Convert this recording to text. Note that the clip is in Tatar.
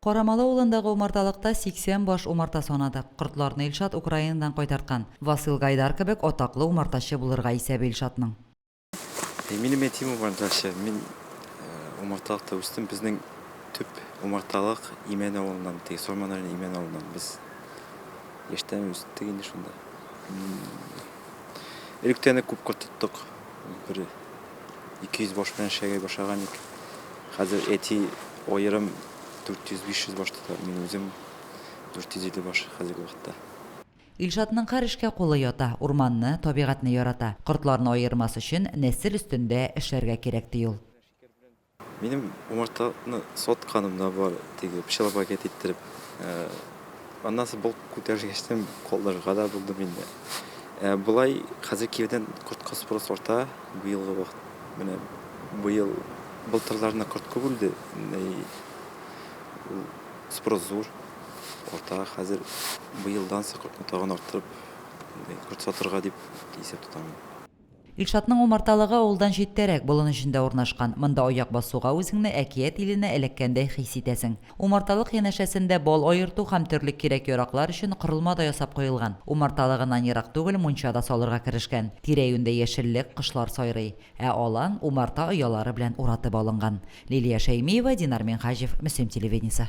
Карамалы авылындагы умарталыкта 80 баш умарта санадык. Кортларны Илшат Украинадан кайтарткан. Васил Гайдар кебек атаклы умартачы булырга исәбе Илшатның. Минем әтием умартачы. Мин умарталыкта үстем. Безнең төп умарталык Имән авылыннан, теге Сорман районы Имән авылыннан. Без яшьтән үстек инде шунда. Элек тә аны күп кортыттык. Бер 200 баш белән эшләгәй башланган ик. Хәзер әти аерым 400-500 баш тота, мин үзем 450 баш хәзерге вакытта. Илшатның һәр эшкә кулы ята, урманны, табигатьне ярата. Кортларны аермас өчен нәсел өстендә эшләргә кирәк, ди ул. Минем умартаны сатканым да бар, теге пычрак пакет иттереп. Аннан соң бу күтәргәчтән калдырырга да булдым инде. Ә болай хәзер кирдән кортка спрос арта, быелгы вакыт. Менә быел былтырларына корт күп үлде, ул спрос зур, арта. Хәзер быелдан соң кортны тагын арттырып, корт сатырга дип исәп тотам. Илшатның умарталыгы авылдан читтәрәк, болын эчендә урнашкан. Монда аяк басуга үзеңне әкият иленә эләккәндәй хис итәсең. Умарталык янәшәсендә бал аерту һәм төрле кирәк-яраклар өчен корылма да ясап куелган. Умарталыгыннан ерак түгел мунча да салырга керешкән. Тирә-юньдә яшеллек, кошлар сайрый. Ә алан, умарта оялары белән уратып алынган. Лилия Шәймиева, Динар Минһаҗев, Мөслим телевидениесе.